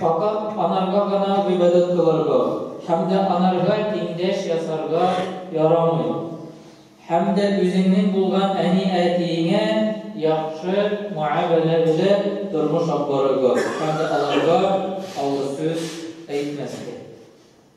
Факат анарга гына гыйбадәт кылырга һәм дә анарга тиңдәш ясарга ярамый. Һәм дә үзеңнең булган әни-әтиеңә яхшы муамәлә белән тормыш алып барырга һәм дә аларга авыр сүз әйтмәскә.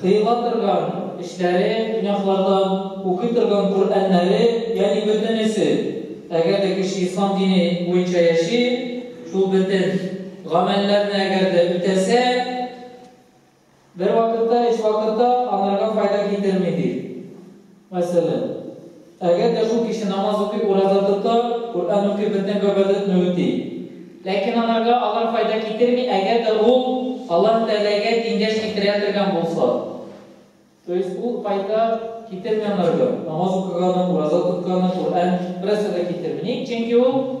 Кыела торган эшләре, гөнаһлардан укый торган Коръәннәре, ягъни бөтенесе. Әгәр дә кеше ислам дине буенча яши, шул бөтен гамәлләрне әгәр дә үтәсә, бер вакытта, өч вакытта анарга файда китерми, ди. Мәсәлән, әгәр дә шул кеше намаз укый, ураза тота, Коръән укый, бөтен гыйбадәтне үти. Ләкин анарга алар файда китерми, әгәр дә ул Аллаһ Тәгаләгә тиңдәш китерә торган булса. То есть ул файда китерми анарга, намаз укыганы, ураза тотканы, Коръән, берәрсә дә китерми. Ник? Чөнки ул.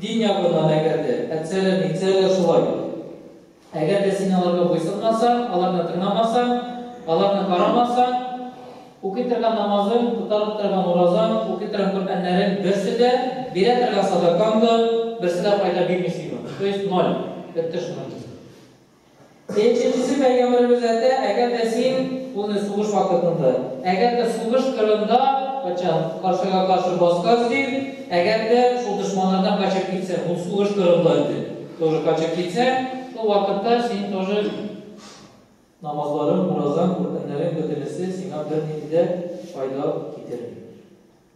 Дин ягыннан әгәр дә әтсәләр, нитсәләр шулай. Әгәр дә син аларга буйсынмасаң, аларны тыңламасаң, аларны карамасаң, укый торган намазың, тотарып торган уразаң, укый торган Коръәннәрең берсе дә, бирә торган садакаң да, берсе дә файда бирми сиңа. То есть ноль. Бетте шуннан киң. Нченчесе пәйгамбәребез әйтә, әгәр дә син аны сугыш вакытында, әгәр дә сугыш кырында качан каршыга каршы баскач дип, әгәр дә шул дошманнардан качып китсәң, ул сугыш кырында иде, тоже качып китсәң, шул вакытта син тоже намазларың, уразаң, Коръәннәрең бөтенесе сиңа бернинди дә файда китерми.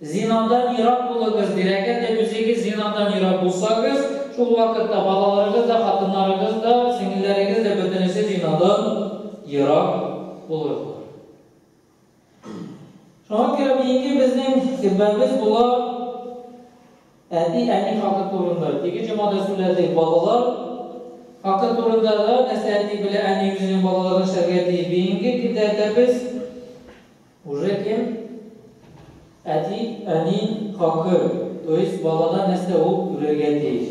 Зинадан ерак булыгыз, бирәкәт дә үзегез зинадан ерак булсагыз, шул вакытта балаларыгыз да, хатыннарыгыз да, сеңелләрегез дә бөтенесе зинадан ерак булырлар. Шуңа күрә бүгенге безнең хөтбәбез була әти-әни хакы турында. Теге җомада сүләдек балалар хакы турында да нәрсә әти белә әни үзенең балаларына эшләргә тиеш. Бүгенге көндә дә без Уже кем? Әти, әни, хакы, то есть балада нәрсә ул күрергә тиеш.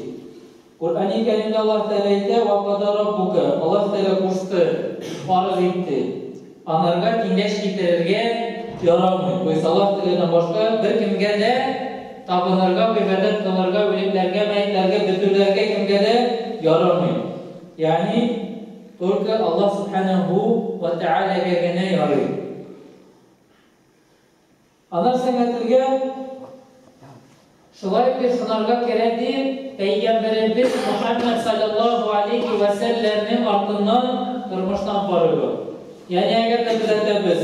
Коръәни Кәримдә Аллаһ Тәгалә әйтә, Ва када раббука, Аллаһ Тәгалә кушты, фарыз итте. Анарга киңәш китерергә ярамый. То есть Аллаһ Тәгаләдән башка бер кемгә дә табынырга, гыйбадәт кылырга, үлекләргә, мәетләргә, бөтенләргә кемгә дә ярамый. Ягъни Только Аллаһ Сүбхәнәһү вә Тәгаләгә генә ярый. Ана сәнгателгә шулай итеп сынарга керә, ди Пәйгамбәребез Мөхәммәд салләллаһу алейһи вә сәлләмнең артыннан тормыштан карыйбыз. Ягъни әгәр дә төзәтәбез.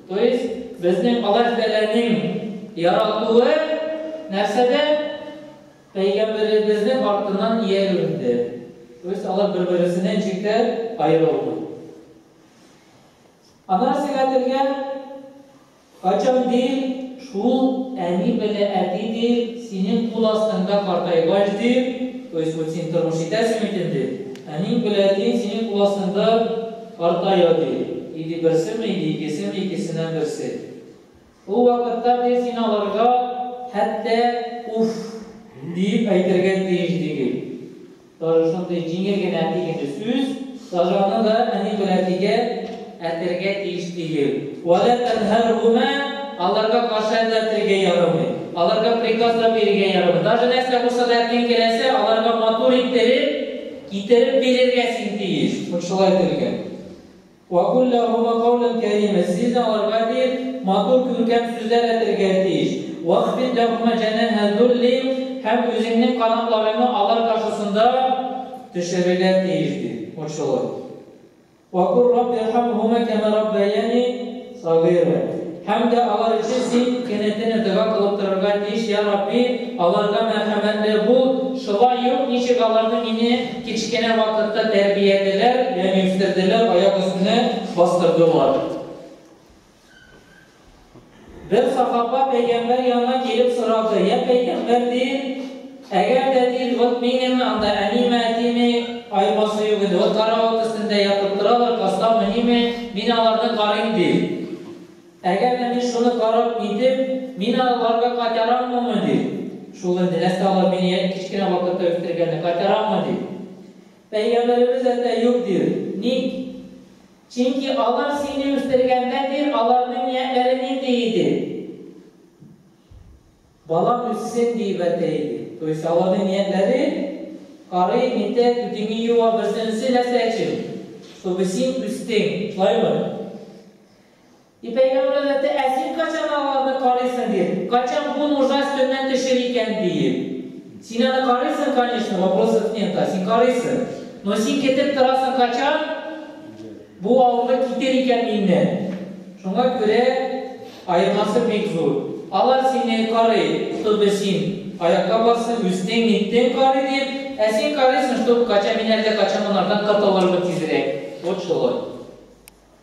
То есть безнең Аллаһ Тәгаләнең яратуы нәрсәдә? Пәйгамбәребезнең артыннан иярүендә. То есть алар бер-берсеннән җиңкә аерылмый. Ана сиңа телгә качан дин шул әни белә әти дин синең кул астыңда картайгач дин, то есть вот син тормыш итәсең икән дин, әни белә дин синең кул астыңда Картаю, ди, или берсеме, или икесеме, икесеннән берсе. Ул вакытта без инде аларга хәтта уф! диеп әйтергә тиеш дигел. Даже шундый җиңел генә әти генә сүз, даже аны да әни бер әтигә әтергә тиеш дигел. Вәлә тәнһәрһүмә, аларга каршы әтә әтергә ярамый. Аларга приказлар бирергә ярамый. Даже нәрсә булса да әтиең теләсә, аларга матур иттереп, Китереп бирергә син тиеш! Бу шулай дигән. Вә кул ләһума каулән кәримә, син дә аларга диеп матур, күркәм сүзләр әйтергә тиеш. Вахфид ләһума җәнәһә зулли, һәм үзеңнең канатларыңны алар каршысында төшерергә тиеш, ди. Бу шулай. Вә кул Рабб ирхамһума кәмә раббаяни сагыйра. Һәм дә алар өчен син кенәтенә дога кылып торырга тиеш, Йә Рабби, аларга мәрхәмәтле бул, шулай ук ничек аларны мине кечкенә вакытта тәрбиялиләр, ягъни үстерделәр, аяк өстенә бастырдылар. Бер сахаба пәйгамбәр янына килеп сорады, Я пәйгамбәр, ди, әгәр дә, ди, вот минем анда әниме, әтиме, аемасы юк иде, вот карават өстендә ятып торалар, каста мөһиме, мин аларны карыйм, ди. Әгәр дә мин шуны карап китеп, мин аларга кайтараммы, ди. Шул инде, нәрсә алар мине кечкенә вакытта үстергәнне кайтараммы, ди. Пәйгамбәребез әйтә, юк, ди. Ник? Чөнки алар сине үстергәндә бир, аларның ниятләре нинди иде? Балам үссен диеп әйтә иде. То есть аларның ниятләре, карый, нитә, түтиңе юа, берсенесе нәрсә өчен? Чтобы син үстең, шулаймы? Ипәк әүләдәте, Ә син качан аларны карыйсың, дип, качан бу нужа өстеннән төшер икән, диеп. Син аны карыйсың, конечно, вопросов нет, а син карыйсың. Но син кетеп торасың, качан бу авырлык китер икән миннән. Шуңа күрә аермасы бик зур. Алар сине карый, чтобы син аякка барсың, үстең, ниттең, карый дип, ә син карыйсың, чтобы качан мин әллә качан монардан котылырмын тизрәк. Вот шулай.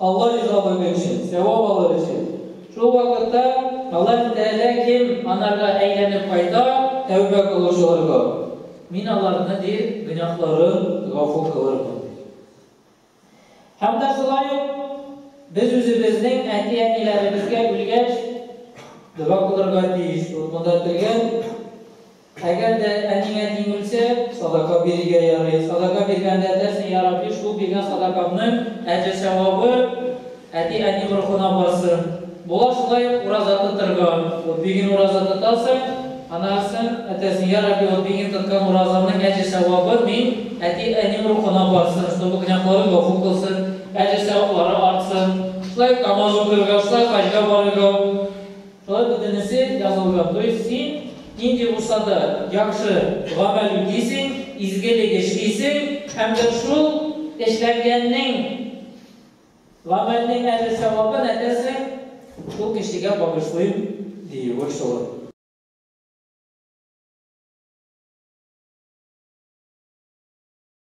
Алла ризалыгы өчен, сәвап алыр өчен. Шул вакытта Аллаһы Тәгалә кем анарга әйләнеп кайта, тәүбә кылучыларга, Мин аларны, ди, гөнаһларын гафу кылырмын, ди. Һәм дә шулай ук без үзебезнең әти-әниләребезгә үлгәч дога кылырга тиешбез. Монда кергән. Әгәр дә әнигә тиң үлсә, садака бирергә ярый. Садака биргәндә әйтәсең, Йә Рабби, шул биргән садакамның әҗер-сәвабы әти-әни рухына барсын. Була шулай ук ураза тотырга. Вот бер көн ураза тотасың, аннан соң әйтәсең, Йә Рабби, вот бер көн тоткан уразамның әҗер-сәвабы мин әти-әним рухына барсын, чтобы гөнаһларым гафу кылсын, әҗер-сәваплары артсын. Шулай ук намаз укырга, шулай хаҗга барырга. Тагы бөтенесе язылды. То есть син нинди булса да яхшы гамәл үтисең, изгелек эшлисең һәм дә шул эшләнгәннең, гамәлнең әҗер савабын әтәсең, шул кешегә багышлыйм диюе шул.